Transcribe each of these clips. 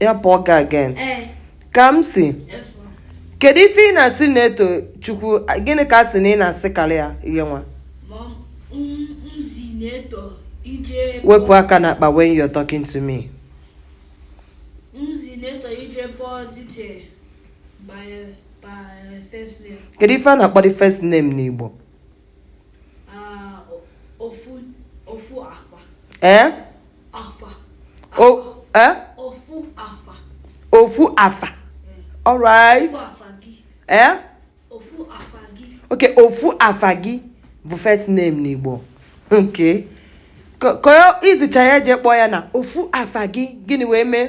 ya pụọ ga again eh. Kamsi kedu ife ị na-asị Netochukwu gịnị ka a sị na ị na-asịkalị ya ihe nwa wepụ aka n'akpa when you're talking to me kedu ife a na-akpọ the first name n'Igbo ah, ee eh? eh? ofu afa all right eh? okay ofu afa gị bụ first name n'Igbo okay ka i zicha ya jee kpọọ ya na ofu afa gị gịnị wee mee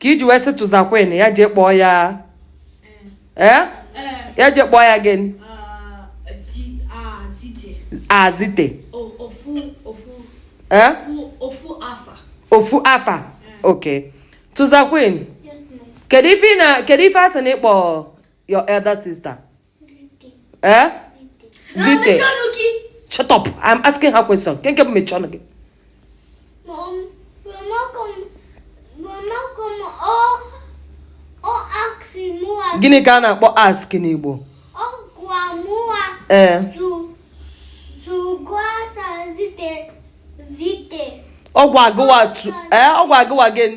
ka i ji wee sị tụzakwen ya jee kpọọ ya ee eh? eh? ya jee kpọọ ya gịnị Zite eh? ofu afa ok tụzakwen kedu ife a sị na ị kpọ your elder sister ee Zite shut up i'm asking her question nke nke bụ mechie ọnụ gị gịnị ka a na-akpọ ask n'Igbo ee ọ gwa gụwa ee ọ gwa gụwa gịnị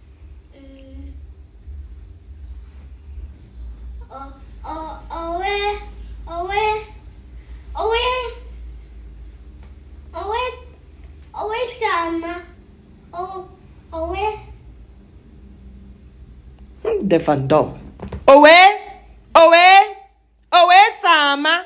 defandom. Owe, owe, owe sama,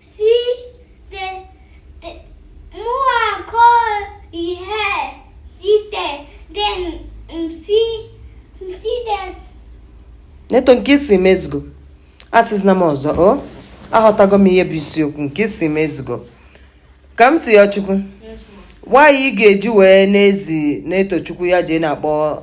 Si te, te mua ko ihe si te den msi msi det. Neto nke ị sị m ezugo asịzina m ọzọ o aghọtago m ihe bụ isiokwu nke ị sị m ezugo Kamsiyochukwu why ị ga-eji wee na-ezi Netochukwu ya jee na-akpọ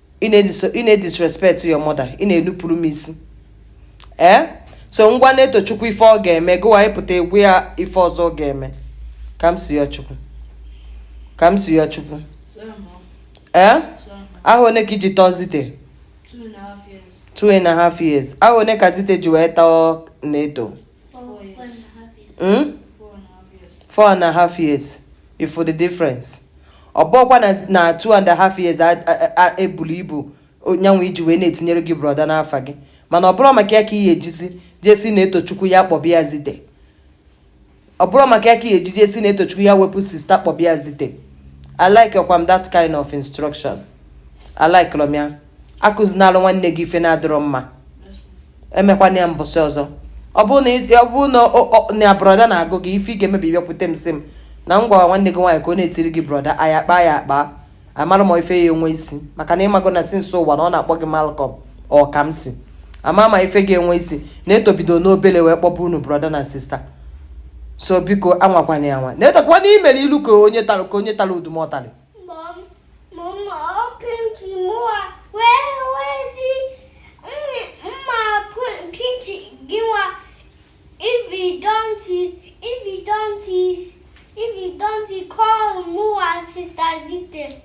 ị na-edisrespect your mother ị na-enupụrụ m isi ee eh? so m gwa Netochukwu ife ọ ga-eme gụwa ị pụta ị gwa ya ife ọzọ ọ ga-eme Kamsiyochukwu Kamsiyochukwu ee eh? ahọ one ka i ji tọọ Zite two and a half years ahọ one ka Zite ji wee tọọ Neto Four, years. Four and a half years. Hmm? Four and a half years. Four and a half years. ị fụ the difference. ọ bụkwa na two and a half years ebulu ibu nyanwụ iji wee na-etinyere gị brọda n'afa gị mana ọ bụrọ maka ya ka ị ya-ejizi jee sị Netochukwu ya kpọba ya Zite ọ bụrọ maka ya ka ị ya-eji jee sị Netochukwu ya wepụ sista kpọba ya Zite alikerọkwa m that kind of instruction alikerọ m ya akụzinalụ nwanne gị ife na-adịrọ mma emekwana ya mbọsị ọzọ ọ bụrụ na brọda na-agụ gị ife ị ga-eme bụ ị bịakwute m sị m na m gwara nwanne gị nwaanyị ka ọ na-etiri gị brọda a ya-akpa ya akpa amara m ife ya-enwe isi maka na ị mago na since ụwa na ọ na-akpọ gị Malcolm ọ ka m si ama ma ife ga-enwe isi Neto bido n'obele wee kpọba unu brọda na sista so biko anwakwana ya anwa na-etakwana i mere ilu ka onye tara udumọtarị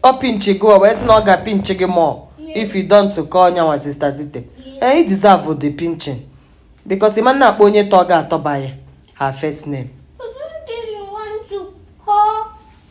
ọ pinchi gị wee sị na ọ ga-apinchi gị more if you don't call nyanwa sista Zite ee ị deserve the pinching because ị ma na-akpọ onye tọ gị atọ by her first name